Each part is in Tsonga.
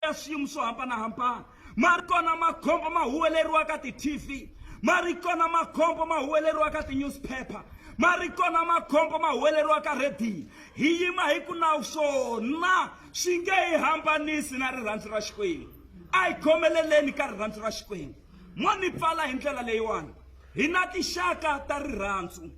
ya swiyimo swo hambanahambana ma ri kona makhombo ma huweleriwa ka ti-tv ma ri kona makhombo ma huweleriwa ka ti-newspaper ma ri kona makhombo ma huweleriwa ka rhediyo hi yima hi ku nawu swona swi nge hi hambanisi na rirhandzu ra xikwembu a hi khomeleleni ka rirhandzu ra xikwembu mo ni pfala hi ndlela leyiwani hi na tixaka ta rirhandzu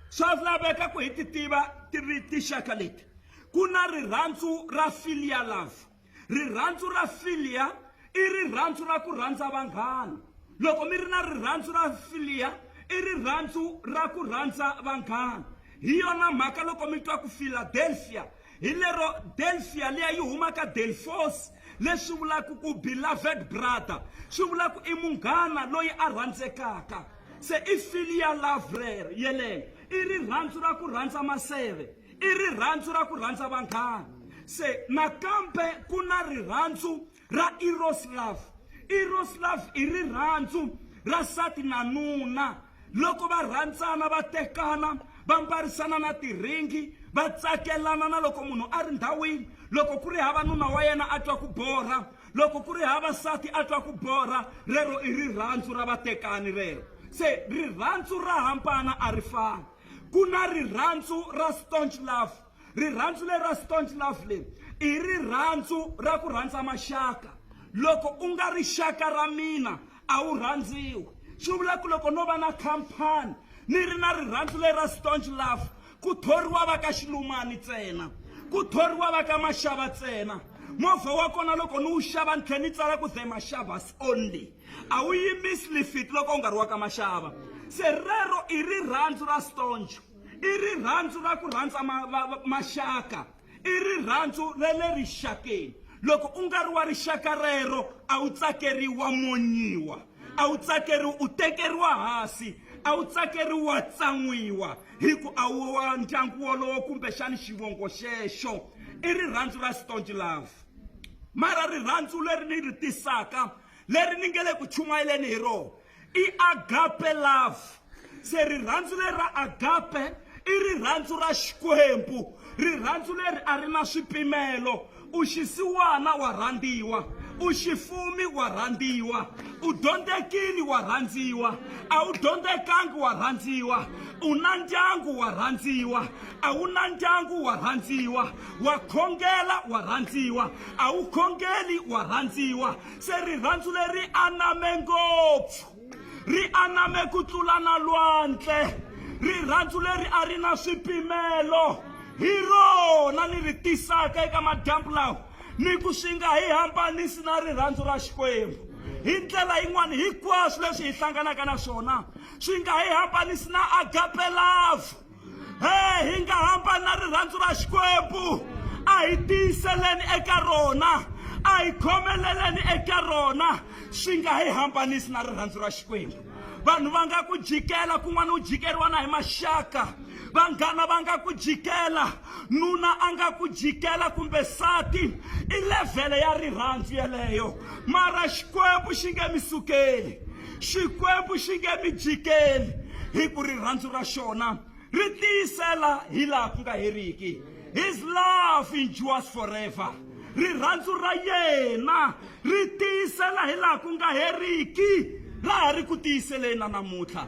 swa laveka ku hi ti tiva ti ri tixaka leti ku na rirhandzu ra filial love Rirhandzu ra philia i rirhandzu ra ku rhandza vanghana. Loko mi ri na rirhandzu ra philia i rirhandzu ra ku rhandza vanghana. Hi yona mhaka loko mi twa ku Philadelphia hi lero Delphia liya yi huma ka Delphos leswi vulaka ku beloved brother swi vula ku i munghana loyi a rhandzekaka se i philia love rero yeleyo i rirhandzu ra ku rhandza maseve i rirhandzu ra ku rhandza vanghana se nakambe ku na rirhandzu ra eros love eros love i rirhandzu ra nsati na nuna loko va rhandzana va tekana va mbarisana na tiringi va tsakelana na loko munhu a ri ndhawini loko ku ri hava nuna wa yena a twa ku borha loko ku ri hava nsati a twa ku borha rero i rirhandzu ra vatekani rero se rirhandzu ra hambana a ri fani Ku na rirhandzu ra staunch love. Rirhandzu leri ra staunch love leri i rirhandzu ra ku rhandza maxaka. Loko u nga ri xaka ra mina a wu rhandziwi. Swi vula ku loko no va na khampani ni ri na rirhandzu leri ra staunch love ku thoriwa va ka Xilumani ntsena, ku thoriwa va ka Mashava ntsena. Movha wa kona loko ni wu xava ni tlhela ni tsala ku The Mashavas only. A wu yimisi lifiti loko u nga ri wa ka maxava. Se rero i rirhandzu ra stoncho, i rirhandzu ra ku rhandza ma, va, va, maxaka, i rirhandzu ra le rixakeni. Loko u nga ri wa rixaka rero, a wu tsakeriwi, wa monyiwa, a wu tsakeriwi, u tekeriwa hansi, a wu tsakeriwi, wa tsan'wiwa hi ku a wu wa ndyangu wolowo kumbexani xivongo xexo. I rirhandzu ra stonch love. Mara rirhandzu leri ni ri tisaka leri ni nge le ku chumayeleni hi rona i agape love se rirhandzu leri ra agape i rirhandzu ra xikwembu rirhandzu leri a ri na swipimelo u xisiwana wa rhandziwa u xifumi wa rhandziwa u dyondzekini wa rhandziwa a wu dyondzekangi wa rhandziwa u na ndyangu wa rhandziwa a wu na ndyangu wa rhandziwa wa khongela wa rhandziwa a wu khongeli wa rhandziwa se rirhandzu leri aname ngopfu ri aname ku tlula na lwandle rirhandzu leri a ri na swipimelo hi rona ni ri tisaka eka madyambu lawa ni ku swi nga hi hambanisi na rirhandzu ra xikwembu hi ndlela yin'wana hinkwaswo leswi hi hlanganaka na swona swi nga hi hambanisi na agape love Hey, hi nga hamba na rirhandzu ra Xikwembu a hi tiyiseleni eka rona a hi khomeleleni eka rona swi nga hi hambanisi na rirhandzu ra Xikwembu vanhu va nga ku jikela kun'wana u jikeriwa na hi maxaka vanghana va nga ku jikela nuna a nga ku jikela kumbe sati i levhele ya rirhandzu yeleyo mara xikwembu xi nge mi sukeli Xikwembu xi nge mi jikeli, hi ku rirhandzu ra xona ri tiyisela hi laha ku nga heriki. His love endures forever. Rirhandzu ra yena ri tiyisela hi laha ku nga heriki, ra ha ri ku tiyiseleni na namuntlha.